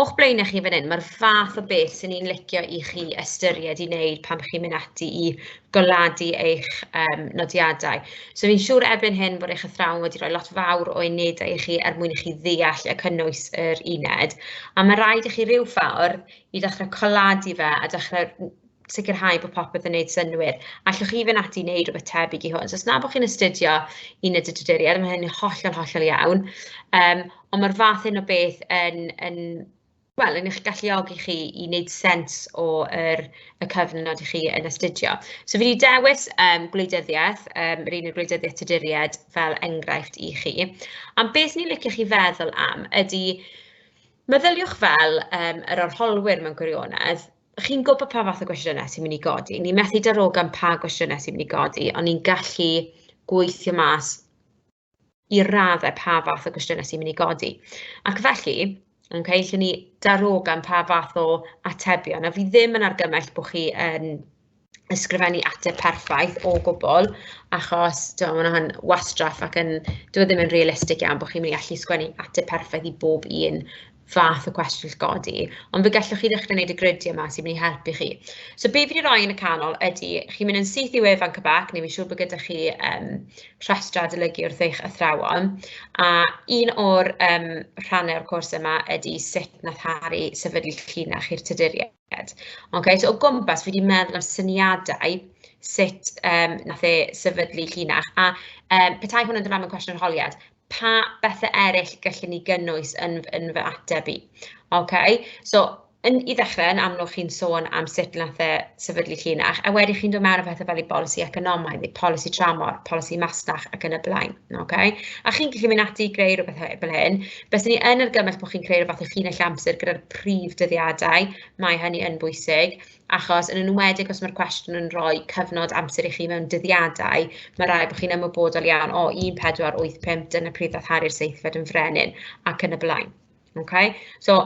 O'ch blaenau chi fan hyn, mae'r fath o beth sy'n ni'n licio i chi ystyried i wneud pan chi'n mynd ati i goladu eich um, nodiadau. So fi'n siŵr erbyn hyn bod eich athrawon wedi rhoi lot fawr o unedau i chi er mwyn i chi ddeall y cynnwys yr uned. A mae rhaid i chi rhyw ffordd i ddechrau coladu fe a dechrau sicrhau bod popeth yn neud synnwyr. Allwch chi fynd ati i wneud rhywbeth tebyg i hwn. So os na bod chi'n astudio un y dydyduriad, mae hynny'n hollol, hollol iawn. Um, ond mae'r fath hyn o beth yn, yn wel, yn eich galluogi chi i wneud sens o'r er, y cyfnod i chi yn astudio. So fi wedi dewis um, gwleidyddiaeth, um, yr un o gwleidyddiaeth tyduriad fel enghraifft i chi. Am beth ni'n licio chi feddwl am ydy, meddyliwch fel um, yr arholwyr mewn gwirionedd, chi'n gwybod pa fath o gwestiynau sy'n mynd i godi. Ni'n methu darogan pa gwestiynau sy'n mynd i godi, ond ni'n gallu gweithio mas i raddau pa fath o gwestiynau sy'n mynd i godi. Ac felly, yn cael lle ni darogan pa fath o atebion, a fi ddim yn argymell bod chi yn ysgrifennu ateb perffaith o gwbl, achos tibod, mae hwnna'n wastraff ac yn... dyw e ddim yn realistig iawn bod chi'n mynd i allu sgwennu ateb perffaith i bob un fath o cwestiwn sy'n codi, ond fe gallwch chi ddechrau wneud y gridiau 'ma sy'n mynd i helpu chi. So be fi 'di roi yn y canol ydy, chi'n mynd yn syth i wefan CBAC, neu fi'n siŵr bod gyda chi yym rhestrau adolygu wrth eich athrawon, a un o'r yym rhannau o'r cwrs yma ydy sut wnaeth Harri sefydlu llinach i'r Tuduriaid. Okay, so o gwmpas, fi wedi meddwl am syniadau sut um, nath e sefydlu llinach, a um, petai hwn yn dyfam yn cwestiwn holiad, pa bethau eraill gallwn ni gynnwys yn, yn fy ateb i? Okay, so yn, i ddechrau, yn amlwg chi'n sôn am sut nath e sefydlu llinach, a wedi chi'n dod mewn o bethau fel i bolisi economaidd, neu polisi tramor, polisi masnach ac yn y blaen. Ok, a chi'n gallu mynd ati i greu rhywbeth fel hyn. Byswn ni yn argymell bod chi'n creu rhywbeth eich hun eich amser gyda'r prif dyddiadau, mae hynny yn bwysig, achos yn enwedig os mae'r cwestiwn yn rhoi cyfnod amser i chi mewn dyddiadau, mae rhaid bod chi'n ymwybodol iawn o 1485, dyna pryd ddath Harri'r seithfed yn frenin, ac yn y blaen. Okay? So,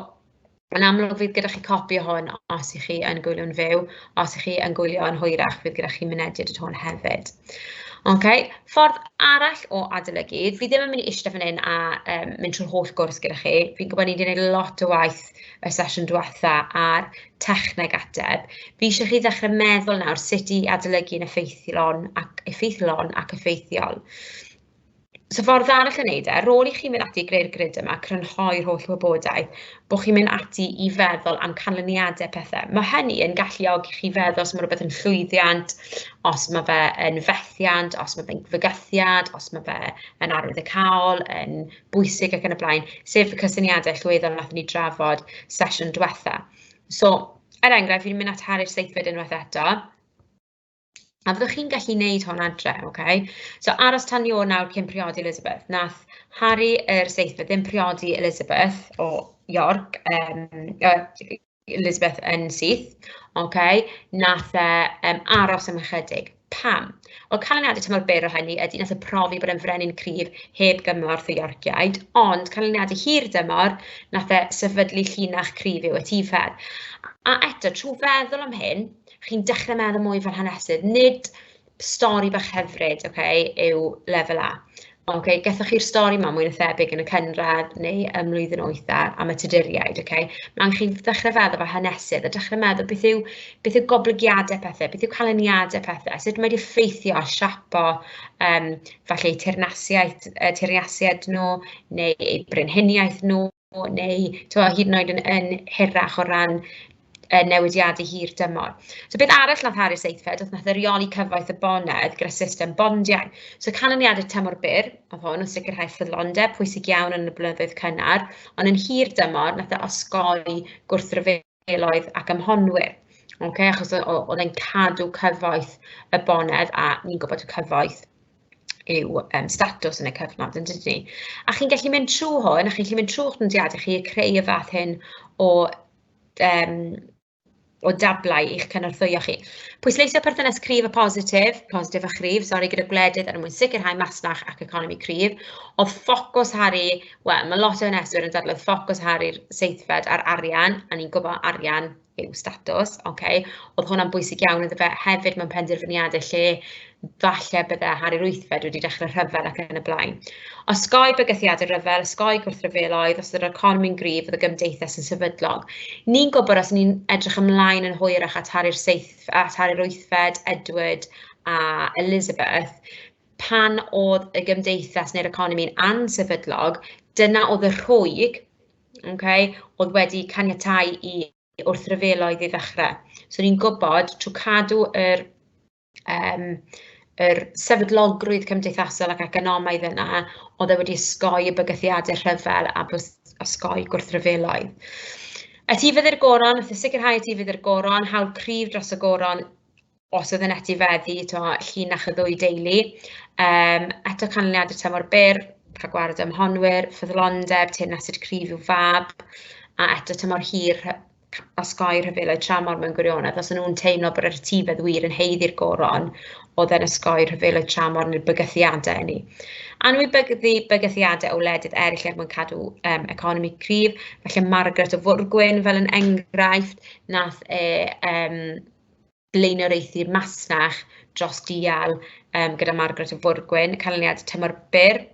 Yn amlwg fydd gyda chi copi o hwn os y'ch chi yn gwylio'n fyw, os y'ch chi yn gwylio yn hwyrach fydd gyda chi mynediad at hwn hefyd. Ok, ffordd arall o adolygu, fi ddim yn mynd i ishte fan hyn a yym mynd trwy'r holl gwrs gyda chi, fi'n gwybod ni 'di neud lot o waith y sesiwn dwetha ar techneg ateb, fi isie chi ddechre meddwl nawr sut i adolygu'n effeithlon ac effeithlon ac effeithiol. So ffordd arall o wneud e, ar ôl i chi mynd ati i greu'r grid yma, crynhoi'r holl wybodaeth, bod chi'n mynd ati i feddwl am canlyniadau pethau. Mae hynny yn galluogi chi feddwl os mae rhywbeth yn llwyddiant, os mae fe yn fethiant, os mae fe'n fygythiad, os mae fe yn arwyddocaol, yn bwysig ac yn y blaen, sef y cysyniadau llwyddol wnaethon ni drafod sesiwn diwetha. So, er enghraifft, fi'n mynd at Harri'r seithfed unwaith eto. A fyddwch chi'n gallu wneud hwn adre, ok? So aros tan ni ôl nawr cyn priodi Elizabeth. Nath Harri yr seithfed ddim priodi Elizabeth o York, um, uh, Elizabeth yn syth, ok? Nath e um, aros am ychydig. Pam? Wel, canlyniadau tymor byr o hynny ydy nath y profi bod yn frenin cryf heb gymorth y Yorkiaid, ond canlyniadau hir dymor nath e sefydlu llinach cryf i'w etifedd. A eto, trwy feddwl am hyn, chi'n dechrau meddwl mwy fel hanesydd, nid stori bach hyfryd, okay, yw lefel A. Okay, gethoch chi'r stori yma mwy na thebyg yn y cynradd neu ym mlwyddyn oedda am y tuduriaid, okay? Mae angen chi ddechrau feddwl fel hanesydd a dechrau meddwl beth yw, beth yw goblygiadau pethau, beth yw canlyniadau pethau, sut mae wedi effeithio a siapo um, falle eu teyrnasiaeth, uh, teyrnasiad nhw neu eu brenhiniaeth nhw o neu tibod hyd yn oed yn yn hirach o ran y newidiadau hir dymor. So beth arall wnaeth Harri Seithfed oedd wnaeth e reoli cyfoeth y bonedd gyda system bondiau. So canlyniadau tymor byr oedd hwn o sicrhau ffyddlondeb pwysig iawn yn y blynyddoedd cynnar, ond yn hir dymor wnaeth e osgoi gwrthryfel Gelloedd ac ym Mhonwyr. Okay, achos oedd e'n cadw cyfoeth y bonedd a ni'n gwybod y cyfoeth yw um, statws yn y cyfnod yn dydyn ni. A chi'n gallu mynd trwy hwn, a chi'n gallu mynd trwy'ch nodiadau chi a creu y fath hyn o, um, o dablau i'ch cynorthwyo chi. Pwysleisio perthynas cryf a positif, positif a chryf, sori, gyda gwledydd er mwyn sicrhau masnach ac economi cryf. Oedd ffocws Harry Wel, mae lot o haneswyr yn dadlau ffocws Harry'r seithfed ar arian, a ni'n gwybod arian yw statws, ok. Oedd hwnna'n bwysig iawn iddo fe hefyd mewn penderfyniadau lle falle bydde Harry'r wythfed wedi dechrau rhyfel ac yn y blaen. Osgoi bygythiadau rhyfel, osgoi gwrthryfeloedd, os ydy'r economi'n gryf, oedd y gymdeithas yn sefydlog. Ni'n gwybod os ni'n edrych ymlaen yn hwyrach at Harry'r seithf, at Harry'r wythfed, Edward a Elizabeth, pan oedd y gymdeithas neu'r economi'n ansefydlog, dyna oedd y rhwyg, okay, oedd wedi caniatau i wrthryfeloedd i ddechrau. So ni'n gwybod trwy cadw yr, um, yr sefydlogrwydd cymdeithasol ac economaidd yna, oedd e wedi ysgoi y bygythiadau rhyfel a ysgoi gwrthryfeloedd. Etifedd i'r goron, wrth sicrhau etifedd i'r goron, hawl cryf dros y goron os oedd yn etifeddu t'mod llinach y ddwy deulu yym eto canlyniadau tymor byr, rhagwared ym mhonwyr, ffyddlondeb, teyrnasid cryf i'w fab, a eto tymor hir rhy- c- osgoi rhyfeloedd tramor mewn gwirionedd os o'n nhw'n teimlo bod yr etifedd wir yn haeddu'r goron o'dd e'n osgoi rhyfeloedd tramor neu'r bygythiade ynny. Anwybyddu bygythiade o wledydd eryll er mwyn cadw yym economi cryf, falle Margaret o Fwrgwyn fel yn enghraifft nath e yym blaenoriaethu masnach dros dial um, gyda Margaret y Fwrgwyn, canlyniad tymor byr.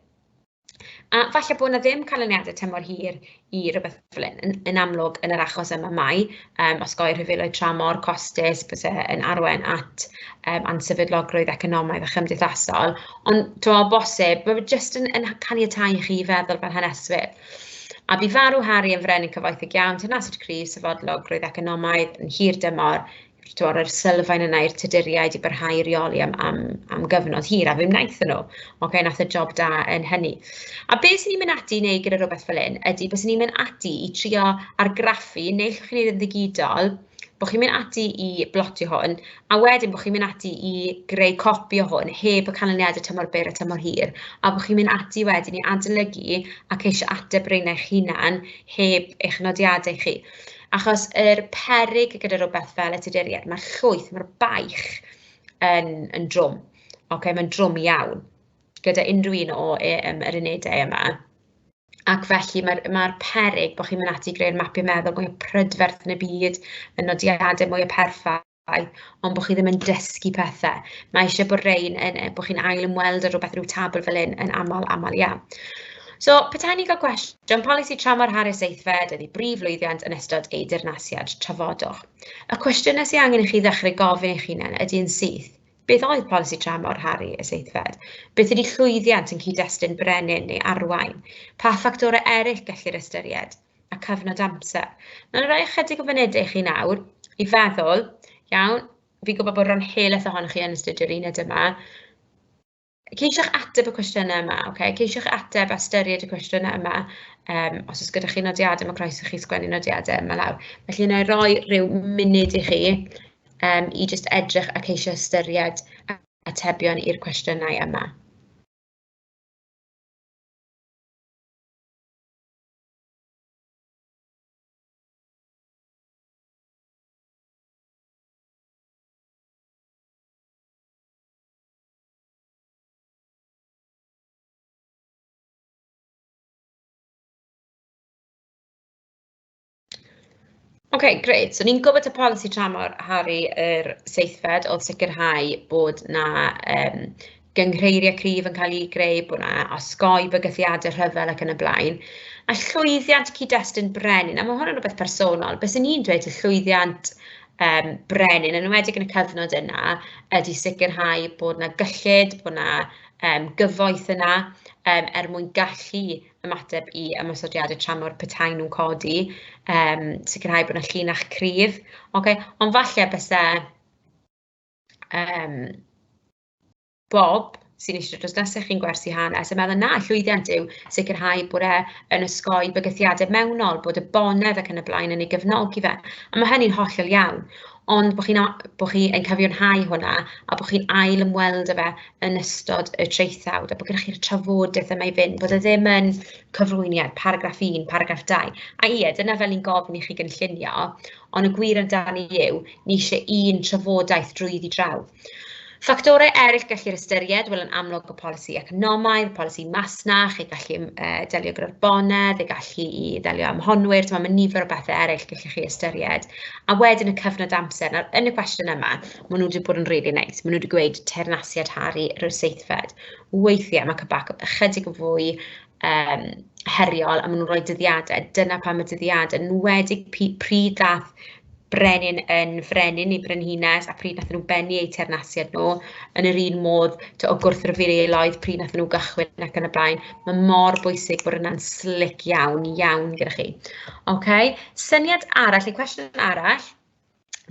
A falle bod yna ddim canlyniadau tymor hir i rhywbeth fel hyn. Yn, yn amlwg, yn yr achos yma mai, um, os goi'r rhyfeloedd tramor, costus, bys yn arwain at um, ansefydlogrwydd economaidd a chymdeithasol. Ond, dwi'n meddwl, bosib, mae jyst yn, yn caniatau i chi feddwl fel haneswyr. A bu farw Harry yn frenin cyfoethog iawn, tenaciwr cryf, sefydlog, roedd economaidd yn hir dymor, tymor yr sylfaen yna i'r Tuduriaid i barhau i reoli am, am, am gyfnod hir, a fe wnaethon nhw. Oce, okay, nath y job da yn hynny. A be sy'n ni'n mynd ati i wneud gyda rhywbeth fel hyn ydy, bys ni'n mynd ati i trio argraffu, neu llwch chi'n ei ddigidol, bod chi'n mynd ati i blotio hwn, a wedyn bod chi'n mynd ati i greu copi o hwn heb y canlyniadau tymor byr a tymor hir, a bod chi'n mynd ati wedyn i adolygu a ceisio ateb reina eich hunan heb eich nodiadau chi. Achos yr perig gyda rhywbeth fel y tuduriaid, mae'r llwyth, mae'r baich yn, yn drwm. Okay, mae'n drwm iawn gyda unrhyw un o e, yr unedau yma. Ac felly, mae'r mae'r peryg bod chi'n mynd ati i greu'r mapio meddwl mwya prydferth yn y byd, y nodiadau mwya perffaith, ond bod chi ddim yn dysgu pethe. Mae eisiau bod rein yn yy bod chi'n ail ymweld â rywbeth ryw tabl fel hyn yn aml aml iawn. So, petawn i'n cael cwestiwn, polisi tramor Harris Seithfed ydy brif lwyddiant yn ystod ei dirnasiad, trafodwch. Y cwestiynau sydd angen i chi ddechrau gofyn eich hunain ydy yn syth, Beth oedd polisi tramor, Harri, y seithfed? Beth ydy llwyddiant yn cyd-destun brenin neu arwain? Pa ffactorau eraill gellir ystyried? A cyfnod amser. Mae'n rhoi ychydig o fynedau i chi nawr i feddwl, iawn, fi'n gwybod bod rhan helaeth ohonoch chi yn astudio'r uned yma, Ceisiwch ateb y cwestiynau yma, ok? Ceisiwch ateb a ystyried y cwestiynau yma. Um, os oes gyda chi nodiadau, mae croeso chi sgwennu nodiadau yma lawr. Felly, yna roi rhyw munud i chi um, i just edrych a ceisio ystyried atebion i'r cwestiynau yma. Ok grêt, so ni'n gwybod y polisi tramor Harri yr seithfed oedd sicrhau bod 'na yym gynghreiriau cryf yn cael eu greu, bod 'na osgoi bygythiadau rhyfel ac yn y blaen, a llwyddiant cyd-destun brenin, a ma' hwn yn rywbeth personol, be 'swn i'n dweud yw llwyddiant yym brenin, yn enwedig yn y cyfnod yna, ydy sicrhau bod 'na gyllid, bod 'na yym gyfoeth yna yym er mwyn gallu ymateb i ymosodiadau tramor petai nhw'n codi, yym sicrhau bod 'na llinach cryf, ocê, ond falle byse yym Bob, sy'n eistedd drws nesaf chi'n gwersi hanes, yn meddwl na, llwyddiant yw sicrhau bod e yn osgoi bygythiadau mewnol, bod y bonedd ac yn y blaen yn ei gefnogi fe. A mae hynny'n hollol iawn, ond bod chi'n bod chi yn cyfiawnhau hwnna a bod chi'n ail ymweld â fe yn ystod y traethawd a bod gennych chi'r trafodaeth yma i fynd, bod e ddim yn cyflwyniad, paragraff 1, paragraff 2. A ie, dyna fel ni'n gofyn i chi gynllunio, ond y gwir amdani yw, ni eisiau un trafodaeth drwyddi draw. Ffactorau eraill gellir ystyried, wel yn amlwg y polisi economaidd, polisi masnach, ei gallu uh, delio gyda'r bonedd, ei gallu i ddelio am honwyr, mae nifer o bethau eraill gallech chi ystyried. A wedyn y cyfnod amser, nawr yn y cwestiwn yma, maen nhw wedi bod yn rili really neis, maen nhw wedi gweud teyrnasiad Harry yr seithfed. Weithiau mae cybac ychydig yn fwy um, heriol a maen nhw'n rhoi dyddiadau. Dyna pam y dyddiadau, yn wedig pryd ddath brenin yn frenin neu brenhines a pryd nathon nhw bennu eu teyrnasiad nhw, yn yr un modd t'o' o gwrthryfeloedd pryd nathon nhw gychwyn ac yn y blaen. Mae mor bwysig bod yna'n slic iawn, iawn gyda chi. OK, syniad arall neu cwestiwn arall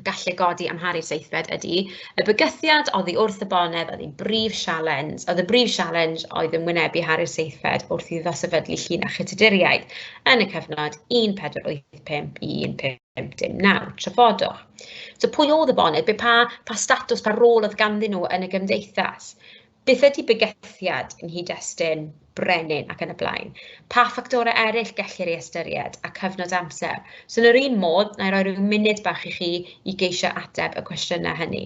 gallu godi am Harri'r Seithfed ydy, y bygythiad oddi wrth y bonedd oedd ein brif sialens, oedd y brif sialens oedd yn wynebu Harri'r Seithfed wrth iddo sefydlu llinach y Tuduriaid yn y cyfnod 1480 5159, trafodwch. So pwy oedd y boned, be pa, pa statws, pa rôl oedd ganddyn nhw yn y gymdeithas? Beth ydy bygythiad yn nghyd-destun brenin ac yn y blaen? Pa ffactorau eraill gellir ei ystyried a cyfnod amser? So yn yr un modd, na i roi rhyw munud bach i chi i geisio ateb y cwestiynau hynny.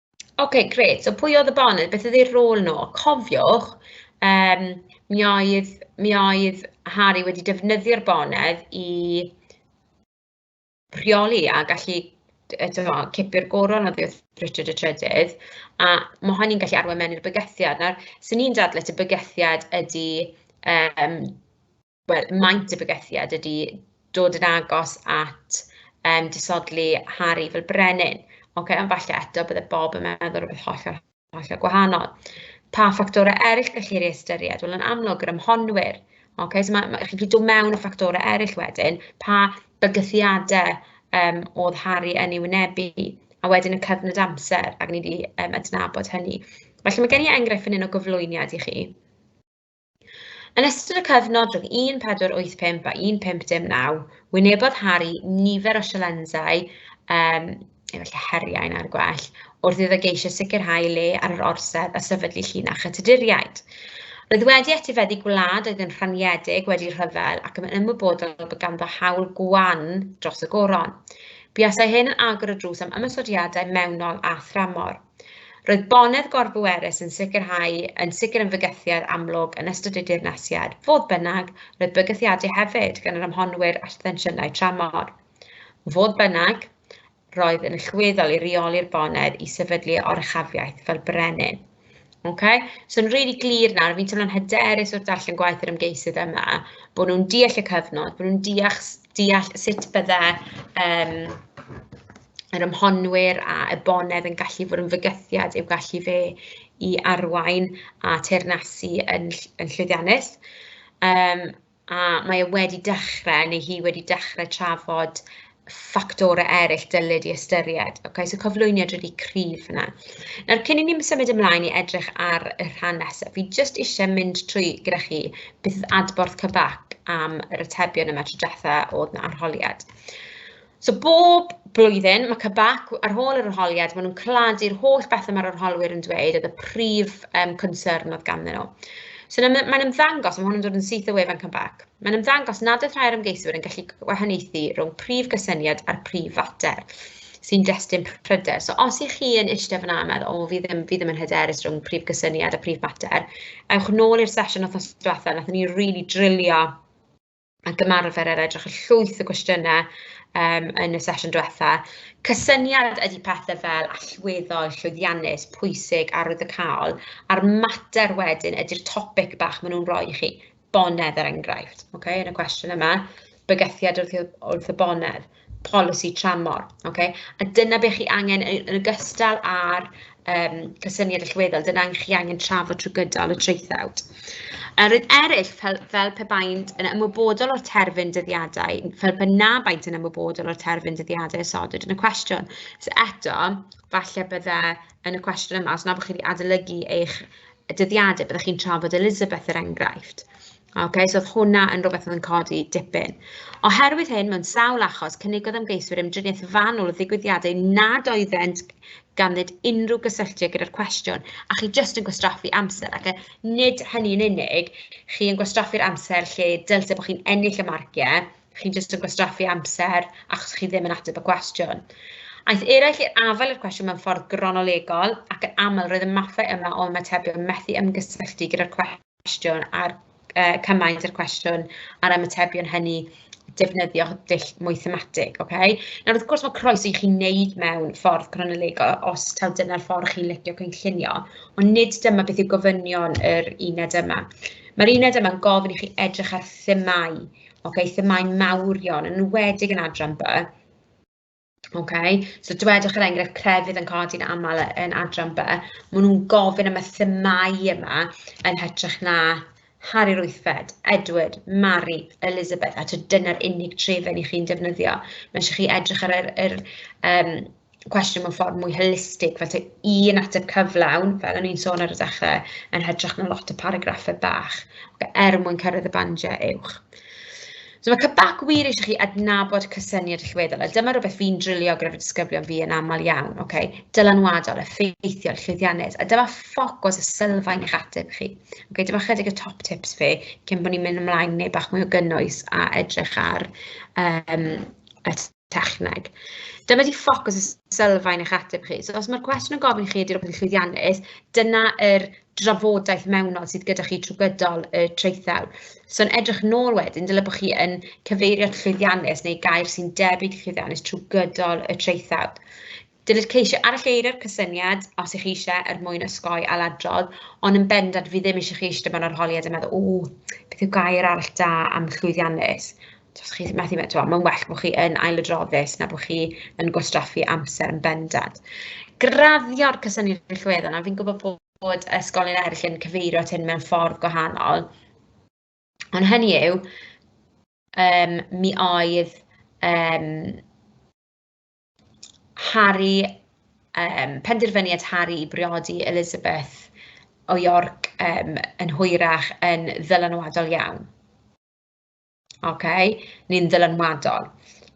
Ok, grêt. So pwy oedd y Bonnie? Beth ydy'r rôl nhw? Cofiwch, um, mi, oedd, mi oedd Harry wedi defnyddio'r bonedd i rheoli a gallu eto cipio'r goron oddi wrth Richard y Trydydd, a mae hynny'n gallu arwain mewn i'r bygythiad. Nawr, sy'n ni'n dadle, y bygythiad ydy um, wel, maint y bygythiad ydy dod yn agos at um, disodli Harry fel brenin. Okay, ond falle eto bydde Bob yn meddwl rhywbeth hollol, hollol gwahanol. Pa ffactorau eraill gellir ei ystyried? Wel, yn amlwg, yr ymhonwyr. Okay, so mae, mae, chi'n gallu dod mewn y ffactorau eraill wedyn, pa bygythiadau um, oedd Harry yn ei wynebu, a wedyn y cyfnod amser, ac ni wedi um, adnabod hynny. Felly mae gen i enghraifft fan hyn o gyflwyniad i chi. Yn ystod y cyfnod rhwng 1485 a 1519, wynebodd Harry nifer o sialensau, um, efallai heriau na'r gwell, wrth iddo geisio sicrhau le ar yr orsedd a sefydlu llinach y Tuduriaid. Roedd wedi etifeddu gwlad oedd yn rhaniedig wedi rhyfel ac yn ymwybodol bod ganddo hawl gwan dros y goron. Buasai hyn yn agor y drws am ymysodiadau mewnol a thramor. Roedd bonedd gorbwerus yn sicrhau yn sicr yn fygythiad amlwg yn ystod y dirnasiad. Fodd bynnag, roedd bygythiadau hefyd gan yr amhonwyr at ddensiynau tramor. Fodd bynnag, roedd yn allweddol i reoli'r bonedd i sefydlu oruchafiaeth fel brenin. Okay? So, yn rili really glir nawr, fi'n teimlo'n hyderus wrth darllen gwaith yr ymgeisydd yma, bod nhw'n deall y cyfnod, bod nhw'n deall, deall sut bydde um, yr ymhonwyr a Ebonedd yn gallu bod yn fygythiad i'w gallu fe i arwain a teyrnasu yn ll- yn llwyddiannus, yym a mae e wedi dechrau, neu hi wedi dechrau trafod ffactorau eraill dylid eu ystyried, ocê, so cyflwyniad rili cryf fan'na. Nawr cyn i ni symud ymlaen i edrych ar y rhan nesaf, fi jyst isie mynd trwy gyda chi beth oedd adborth Cybac am yr atebion yma tro dwetha o'dd 'na arholiad. So bob blwyddyn, mae CBAC, ar ôl yr arholiad, maen nhw'n claddu'r holl bethau mae'r arholwyr yn dweud, oedd y prif um, concern oedd ganddyn nhw. So mae'n ymddangos, mae hwn yn dod yn syth o wefan CBAC, mae'n ymddangos nad oedd rhai'r ymgeiswyr yn gallu gwahaniaethu rhwng prif gysyniad a'r prif fater sy'n destun pryder. So os ych chi yn eistedd fyna a meddwl, o, fi ddim, fi ddim yn hyderus rhwng prif gysyniad a prif mater, ewch nôl i'r sesiwn o'r diwethaf, nath ni rili really drilio ac ymarfer ar edrych ar llwyth o gwestiynau um, yn y sesiwn diwetha. Cysyniad ydy pethau fel allweddol, llwyddiannus, pwysig, arwyddocaol, a'r mater wedyn ydy'r topic bach maen nhw'n rhoi i chi, bonedd er enghraifft, okay, yn y cwestiwn yma, bygythiad wrth, wrth y bonedd. polisi tramor, ocê, a dyna be chi angen yy yn ogystal â'r yym cysyniad allweddol, dyna be chi angen trafod trwy gydol y traethawd. Yr un eraill, fel, fel pe baent yn ymwybodol o'r terfyn dyddiadau, fel pe na baent yn ymwybodol o'r terfyn dyddiadau a sodwyd yn y cwestiwn. So eto, falle bydde yn y cwestiwn yma, os na bod chi wedi adolygu eich dyddiadau, byddwch chi'n trafod Elizabeth er enghraifft. Ok, so oedd hwnna yn rhywbeth oedd yn codi dipyn. Oherwydd hyn, mewn sawl achos, cynnigodd ymgeiswyr ymdriniaeth fanwl o ddigwyddiadau nad oeddent ganddyd unrhyw gysylltiad gyda'r cwestiwn, a chi jyst yn gwastraffu amser, ac e, nid hynny yn unig, chi yn gwastraffu'r amser lle dylse bod chi'n ennill y marciau, chi'n jyst yn gwastraffu amser achos chi ddim yn ateb y cwestiwn. Aeth eraill i'r afael i'r cwestiwn mewn ffordd gronolegol ac yn aml roedd y mathau yma o ymatebion methu ymgysylltu gyda'r cwestiwn cwestiwn a'r uh, cymaint o'r cwestiwn a'r ymatebion hynny defnyddio dull mwy thematig, oce? Okay? Nawr, wrth gwrs, mae croeso i chi wneud mewn ffordd cronolegol os taw dyna'r ffordd chi'n licio cynllunio, ond nid dyma beth yw gofynion yr uned yma. Mae'r uned yma'n gofyn i chi edrych ar themau, okay? themau mawrion, yn wedig yn adran by, Ocê, so dwedwch er enghraifft crefydd yn codi'n aml yn adran B, maen nhw'n gofyn am y themâu yma yn hytrach na Harri'r Wythfed, Edward, Mary, Elizabeth, a dyna'r unig trefen i chi'n defnyddio. Mae eisiau chi edrych ar yr, yr um, cwestiwn mewn ffordd mwy holistig, fel te un ateb cyflawn, fel o'n i'n sôn ar y dechrau, yn hytrach na lot o paragraffau bach, er mwyn cyrraedd y bandiau uwch. So mae CBAC wir eisiau chi adnabod cysyniad allweddol, a dyma rhywbeth fi'n drilio gyda'r disgyblion fi yn aml iawn, okay? dylanwadol, effeithiol, llwyddiannus, a dyma ffocws y sylfaen i'ch ateb chi. Okay? Dyma chydig y top tips fi, cyn bod ni'n mynd ymlaen neu bach mwy o gynnwys a edrych ar um, y techneg. Dyma di ffocws y sylfaen eich ateb chi. So, os mae'r cwestiwn yn gofyn i chi ydy'r opsiwn llwyddiannus, dyna yr drafodaeth mewnol sydd gyda chi trwy gydol y traethau. So'n edrych nôl wedyn, dyle bod chi yn cyfeirio at llwyddiannus neu gair sy'n debyg llwyddiannus trwy gydol y traethau. Dylid ceisio aralleiro'r cysyniad, os ych chi eisiau, er mwyn osgoi ailadrodd, ond yn bendant fi ddim eisiau chi eistedd mewn arholiad a meddwl, o, beth yw gair arall da am llwyddiannus? Os chi methu, mae'n well bod chi yn ailadroddus na bod chi yn gwastraffu amser yn bendant. Graddio'r cysyniad yn llwyddo, a fi'n gwybod bod, bod ysgolion eraill yn cyfeirio at hyn mewn ffordd gwahanol, ond hynny yw, um, mi oedd um, Harri, yym, penderfyniad Harri i briodi Elizabeth o York yym yn hwyrach yn ddylanwadol iawn. Ok, ni'n ddylanwadol.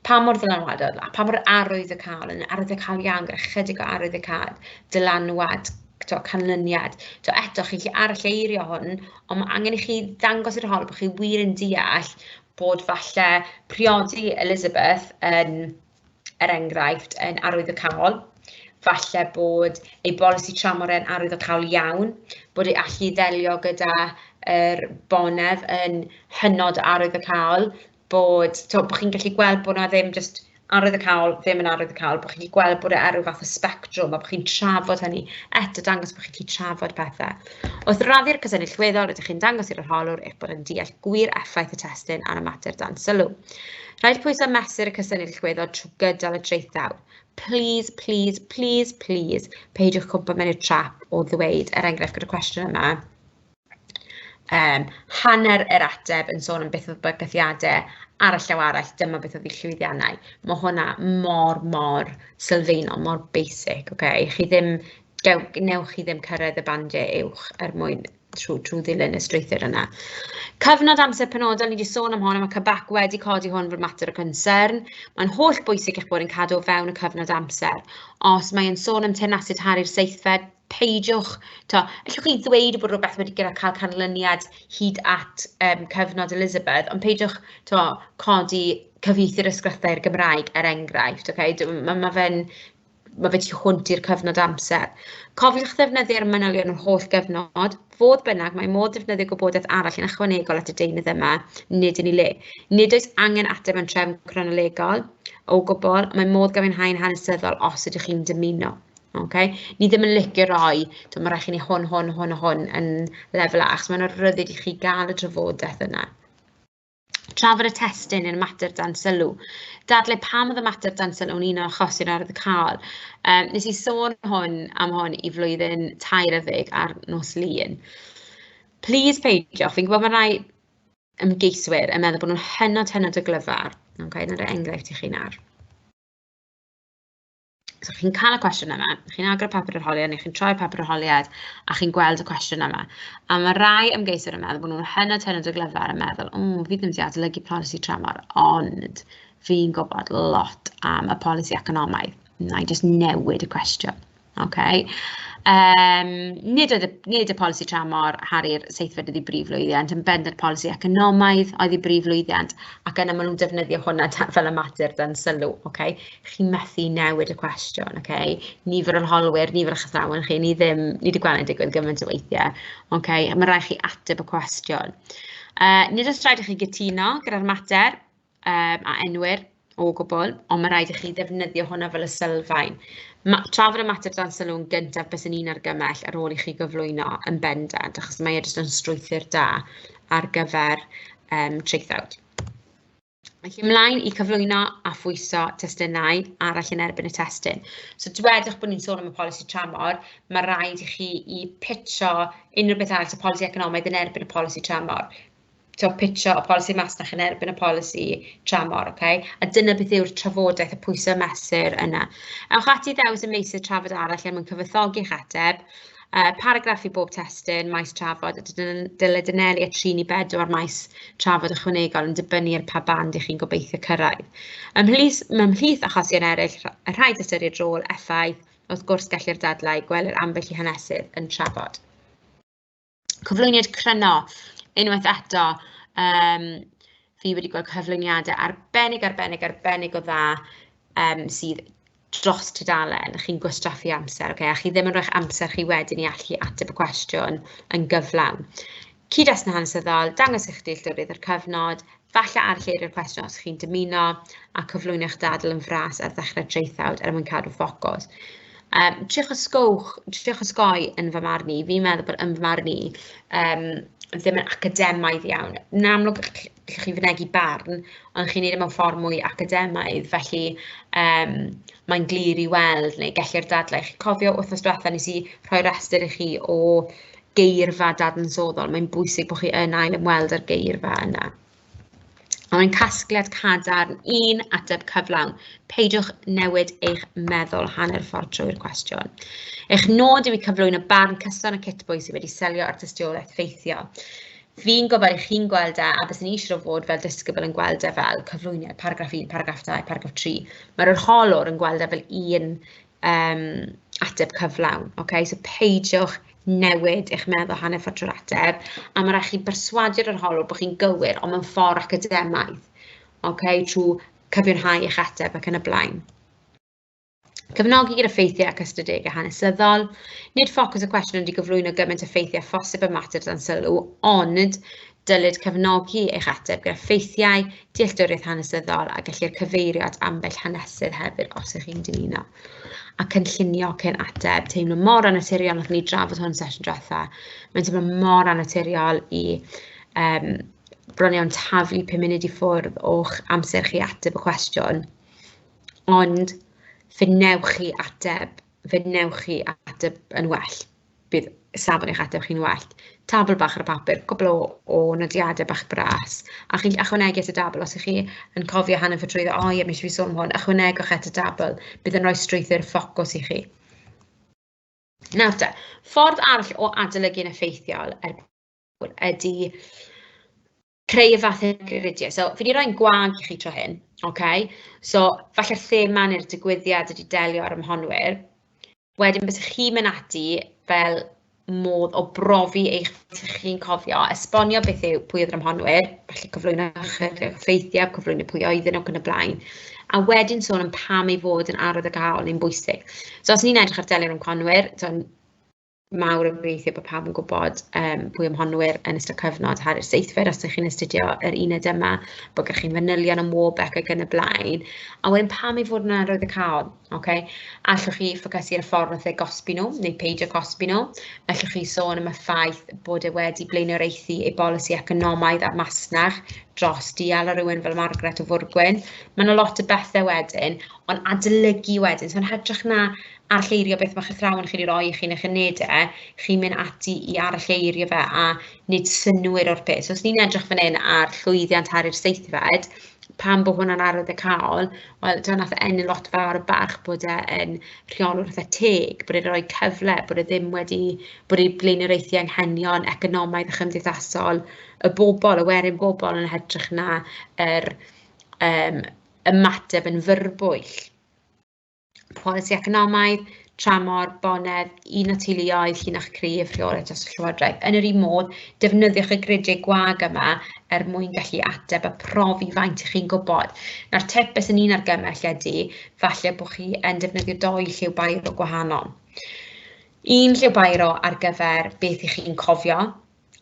Pa mor ddylanwadol, a pa mor arwyddocaol, yn arwyddocaol iawn gyda chydig o arwyddocaol, dylanwad, to, canlyniad. To, eto, chi'n gallu aralleirio hwn, ond mae angen i chi ddangos i'r hol bod chi wir yn deall bod falle priodi Elizabeth yn... Um, er enghraifft, yn arwyddocaol, falle bod ei bolisi tramor yn arwyddocaol iawn, bod ei allu i ddelio gyda yr bonedd yn hynod arwyddocaol, bod to, bod chi'n gallu gweld bod yna ddim jyst arwyddocaol, ddim yn arwyddocaol, bod chi'n gallu gweld bod e ar ryw fath o sbectrwm a bod chi'n trafod hynny, eto dangos bod chi'n gallu trafod pethau. Wrth raddi'r cysyniad llweddol, rydych chi'n dangos i'r arholwr eich bod yn deall gwir effaith y testun ar y mater dan sylw. Rhaid pwysau mesur y cysyniad llwyddo trwy gydol y traethau. Please, please, please, please, peidiwch cwmpa mewn i'r trap o ddweud, er enghraifft gyda'r cwestiwn yma, um, hanner yr ateb yn sôn am beth oedd bygythiadau ar y llaw arall, dyma beth oedd ei llwyddiannau. Mae hwnna mor, mor sylfaenol, mor basic, okay? Chi ddim, gew, newch chi ddim cyrraedd y bandiau uwch er mwyn trwy, trwy ddilyn y strwythur yna. Cyfnod amser penodol, ni wedi sôn am hon, mae Cybac wedi codi hwn fod mater o concern. Mae'n holl bwysig eich bod yn cadw o fewn y cyfnod amser. Os mae'n sôn am tenasid harri'r seithfed, peidiwch, to, allwch chi ddweud bod rhywbeth wedi gyda cael canlyniad hyd at um, cyfnod Elizabeth, ond peidiwch to, codi cyfieithu'r ysgrifau i'r Gymraeg, er enghraifft. Okay? Mae ma fe'n ma' fe tu hwnt i'r cyfnod amser. Cofiwch ddefnyddio'r manylion yr holl gyfnod, fodd bynnag mae modd defnyddio gwybodaeth arall yn ychwanegol at y deunydd yma, nid yn ei le. Nid oes angen ateb yn trefn cronolegol o gwbl, mae modd gofyn hau'n hanesyddol os ydych chi'n dymuno. Okay. Ni ddim yn licio roi, to, mae rhaid chi ni hwn, hwn, hwn a hwn yn lefel A, achos mae'n rhyddid i chi gael y drafodaeth yna. Trafod y testun i'r mater dan sylw. Dadle pam oedd y mater dan sylw yn un o achosi'r ardd y cael. Um, nes i sôn hwn am hwn i flwyddyn tair yddeg ar nos lun. Please peidiwch, fi'n gwybod mae rai ymgeiswyr yn meddwl bod nhw'n hynod hynod o glyfar. Okay, dyna enghraifft i chi nawr. So chi'n cael y cwestiwn yma, chi'n agor y papur arholiad neu chi'n troi'r papur arholiad a chi'n gweld y cwestiwn yma. A mae rai ymgeiswyr yn meddwl bod nhw'n hynod hynod o glyfar yn meddwl, o, fi ddim wedi adolygu polisi tramor, ond fi'n gwybod lot am y polisi economaidd. Na i just newid y cwestiwn. Okay. Um, nid, oedd y, nid y polisi tramor Harry'r seithfed ydi brif lwyddiant, yn bendant polisi economaidd oedd y brif lwyddiant, ac yna maen nhw'n defnyddio hwnna fel y mater dan sylw. Okay? chi'n methu newid y cwestiwn, ok? Nifer o'n holwyr, nifer o'ch athrawon chi, ni ddim, ni wedi gweld yn digwydd gymaint o weithiau, ok? Mae rhaid chi ateb y cwestiwn. Uh, nid oes rhaid i chi gytuno gyda'r mater um, a enwyr o gwbl, ond mae rhaid i chi ddefnyddio hwnna fel y sylfaen. Ma, trafod y mater dan sylw'n gyntaf bys yn un argymell ar ôl i chi gyflwyno yn bendant, achos mae e jyst yn strwythyr da ar gyfer um, traethawd. Felly ymlaen i cyflwyno a phwyso testunau arall yn erbyn y testun. So dwedwch bod ni'n sôn am y polisi tramor, mae rhaid i chi i pitcho unrhyw beth arall, so polisi economaidd yn erbyn y polisi tramor. So pitcho y polisi masnach yn erbyn y polisi tramor, okay? A dyna beth yw'r trafodaeth y pwysau mesur yna. Ewch ati ddewis y meysydd trafod arall er mwyn cyfathogi'ch ateb, Uh, paragraff i bob testyn, maes trafod, dylai dynelu at 3 i 4 maes trafod ychwanegol yn dibynnu ar pa band ych chi'n gobeithio cyrraedd. Ymhlith, ymhlith achosion eraill, y rhaid ystyried rôl, effaith, wrth gwrs gellir dadlau, gwelir ambell i hanesydd yn trafod. Cyflwyniad cryno, unwaith eto, um, fi wedi gweld cyflwyniadau arbennig, arbennig, arbennig o dda um, sydd dros tudalen, chi'n gwastraffu amser, okay? a chi ddim yn rhoi'ch amser chi wedyn i allu ateb y cwestiwn yn gyflawn. Cyd-destun hanesyddol, dangos eich dealltwriaeth o'r cyfnod, falle arlleirio'r cwestiwn os chi'n dymuno, a cyflwyno'ch dadl yn fras ar ddechrau traethawd er mwyn cadw ffocws. Um, triwch ysgowch, triwch ysgoi yn fy marn i, fi'n meddwl bod yn fy marn i, um, ddim yn academaidd iawn. Yn amlwg, lle chi'n fynegi barn, ond chi'n neud e mewn ffordd mwy academaidd, felly um, mae'n glir i weld, neu gellir dadlau. Chi'n cofio wythnos diwetha nes i rhoi rhestr i chi o geirfa dadansoddol, mae'n bwysig bod chi yn ail ymweld â'r geirfa yna. A mae'n casgliad cadarn un ateb cyflawn. Peidiwch newid eich meddwl hanner ffordd trwy'r cwestiwn. Eich nod yw i cyflwyno barn cyson y cytbwy sydd wedi selio ar dystiolaeth ffeithiol. Fi'n gwybod eich chi'n gweld e, a bys yn eisiau o fod fel disgybl yn gweld e fel cyflwyniad, paragraff 1, paragraff 2, paragraff 3. Mae'r arholwr yn gweld e fel un um, ateb cyflawn. Okay? So peidiwch newid eich meddwl hanner ffordd trwy'r ateb, a mae rhaid chi berswadio'r arholwr bod chi'n gywir, ond mewn ffordd academaidd, okay? trwy cyfiawnhau eich ateb ac yn y blaen. Cefnogi gyda ffeithiau ac ystadegau hanesyddol. Nid ffocws y cwestiwn ydy gyflwyno gymaint o ffeithiau phosib y mater dan sylw, ond dylid cefnogi eich ateb gyda ffeithiau, dealltwriaeth hanesyddol a gellir cyfeirio at ambell hanesydd hefyd os ych chi'n dymuno. A cynllunio cyn ateb, teimlo mor anaturiol, nath ni drafod hwn sesiwn diwetha, mae'n teimlo mor anaturiol i um, bron iawn taflu 5 munud i ffwrdd o'ch amser chi ateb y cwestiwn ond fe wnewch chi ateb, fe wnewch chi ateb yn well, bydd safon eich ateb chi'n well. Tabl bach ar y papur, cwpl o o nodiadau bach bras, a chi'n gallu ychwanegu at y dabl os 'y chi yn cofio hanner ffordd drwyddo, "o ie, wnes i sôn am hwn", ychwanegwch at y dabl, bydd yn rhoi strwythur ffocws i chi. Nawr te, ffordd arall o adolygu'n effeithiol er ydy creu y fath hygyryddiau. So, fi wedi rhoi'n gwag i chi tro hyn, okay? So, falle'r thema neu'r digwyddiad ydy delio ar ymhonwyr. Wedyn, bys chi'n mynd ati fel modd o brofi eich fod chi'n cofio, esbonio beth yw pwy oedd yr ymhonwyr, felly cyflwyno chyflwyno ffeithiau, cyflwyno pwy oedd yn ac yn y blaen, a wedyn sôn am pam ei fod yn arwydd o gael yn bwysig. So, os ni'n edrych ar delio'r ymhonwyr, mawr yn gobeithio bod pawb yn gwybod um, pwy am honwyr yn ystod cyfnod Harri'r Seithfed, os ydych chi'n astudio yr uned yma, bod gennych chi'n fanylion am Warbeck ac yn y blaen. A wedyn pam i fod yn arwydd y cael, okay? allwch chi ffocysu ar y ffordd wrth eu gosbi nhw, neu peidio cosbi nhw, allwch chi sôn am y ffaith bod e wedi blaenoriaethu ei bolisi economaidd a'r masnach dros dial ar rywun fel Margaret o Fwrgwyn. Mae yna lot o bethau wedyn, ond adolygu wedyn, so'n hytrach na aralleirio beth mae'ch athrawon chi'n ei roi i chi yn eich unedau, chi'n mynd ati i aralleirio fe a nid synnwyr o'r peth. So, os ni'n edrych fan hyn ar llwyddiant ar yr seithfed, pan bod hwnna'n arwyddocaol, wel, dyna nath ennill lot fawr o barch bod e yn rheolwr fatha teg, bod e'n rhoi cyfle, bod e ddim wedi, bod ei blaenoriaethu anghenion economaidd a chymdeithasol y bobl, y werin bobl yn hytrach na yr um, ymateb yn fyrbwyll. polisi economaidd, tramor, bonedd, un o teuluoedd, llinach cryf, rheolaeth dros y llywodraeth. Yn yr un modd, defnyddiwch y gridiau gwag yma er mwyn gallu ateb a profi faint ych chi'n gwybod. Nawr, tepus yn un ar gymell ydy, falle bod chi yn defnyddio doi lliw bairo gwahanol. Un lliw bairo ar gyfer beth ych chi'n cofio,